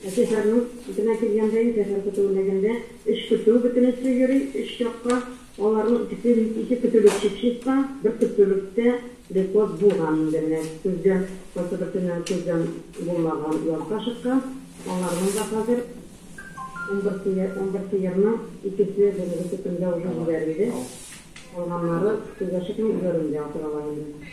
Ә шәһәрнең читенә килгәндә инде, шәһәр көтү бүлегендә өч көтү бөтенесе йөри, өч якка. Аларның икесе, ике көтүлек Чикчиста, бер көтүлектә Лепоз булган инде. Менә көзгә кайсы берсеннән күздән булмаган язга чыккан. Аларның да хәзер унбер сыер, унбер сыерның икесе бүгенге төкемдә уже җибәрелде. Калганнары күзгә чыкмый, өйләрендә утыралар инде.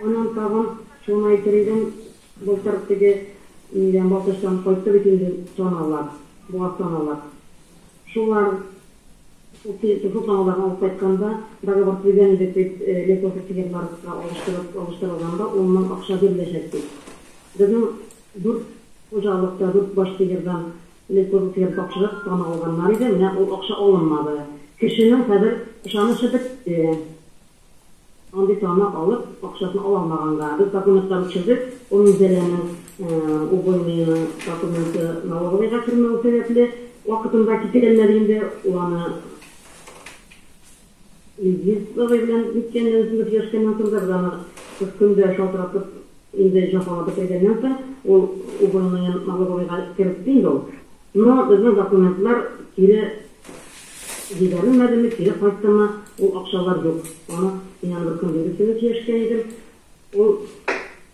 Аннан тагын Чонай Төридән былтыр теге нидән, басыштан кайтты бит инде Чаналар, Буазтан алар. Шулар шул Чаналарны алып кайтканда, договор төзегән идек бит, лесофритигерларга алыштырып, алыштырылганда ун мең акча биреләчәк дип. Безнең дүрт хуҗалыкта дүрт баш сыердан лесофритигер тапшырып таны алганнар иде, менә ул акча алынмады. Кешенең хәзер ышанычы бетте. Андый таны алып, акчасын ала алмаганга, без документлар үчердек, ул Минзәләнең Убойныйның документы налоговыйга кермәве сәбәпле, вакытында китерәлмәде инде, ул аны Илгиз бабай белән ниткән дә үзебез сөйләшкәннән соң да, без аны кыз көн дә шалтыратып, инде җафалап бетергәннән соң, ул Убойныен налоговыйга кертте инде ул, но безнең документлар кире Җибәрелмәдеме, кире кайттымы, ул акчалар юк. Аны мин аны бер көндез өстенә сөйләшкән идем. Ул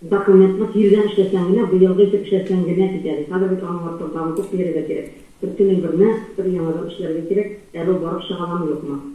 документны тиздән эшләсәң генә, быелгы итеп эшләсәң генә китә, ди. Хәзер бит аның артын тагын күп бияргә кирәк. Бер көнең берне, бер яңадан эшләргә кирәк. Әле ул барып чыга ламы, юкмы.